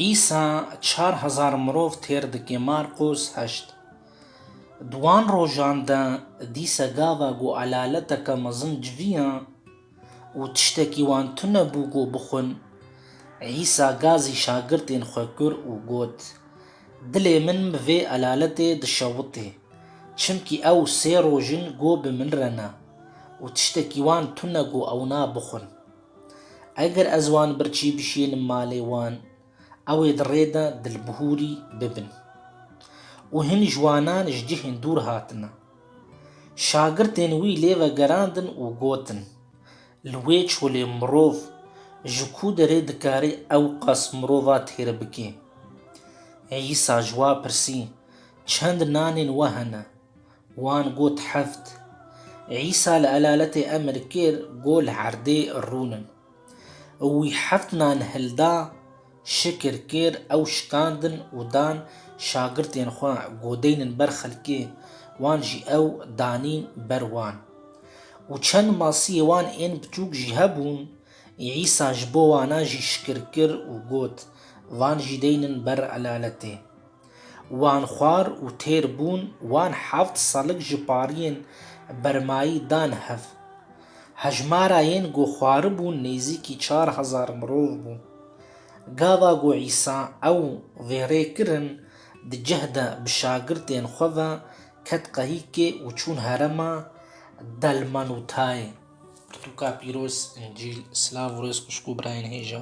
Îsa çar hezar mirov têr dike Marqûs heşt. Di wan rojan de dîse gava ku elaleteke mezin civiya û tiştekî wan tune bû ku bixwin, Îsa gazî şagirtên xwe kir û got, Dilê min bi vê elaletê dişewite, çimkî ew sê roj in ku bi min re ne û tiştekî wan tune ku ew nabixwin. Eger ez wan bir çî bişînim malê wan, ew ê di rê de dilbihûrî bibin. Û hin ciwanan ji cihên dûr hatine. Şagirtên wî lê vegerandin û gotin, Li wê çolê mirov ji ku derê dikarî ewqas mirova têr bike? Îsa ji wa pirsî, Çend nanên we hene? Wan got heft. Îsa li elaletê emir kir ku li erdê rûnin. Û wî heft nan hilda, şikir kir, ew şikandin û dan şagirtên xwe ku deynin ber xelkê wan jî ew danîn ber wan. Û çend masiyê wan ên biçûk jî hebûn, Îsa ji bo wana jî şikir kir û got, Van jî deynin ber elaletê. Wan xwar û têr bûn, wan heft salig ji pariyên Bermayî dan hev. Hejmara yên ku xwaribûn nêzîkî çar hezar mirov bû. Gava ku Îsa ew vêrê kirin, di cih de bi şagirtên xwe ve ket qehîkê û çûn herêma Dalmanutayê. Pirtûka pîroz, Încîl, silav û rêz xwişk û birayên hêja.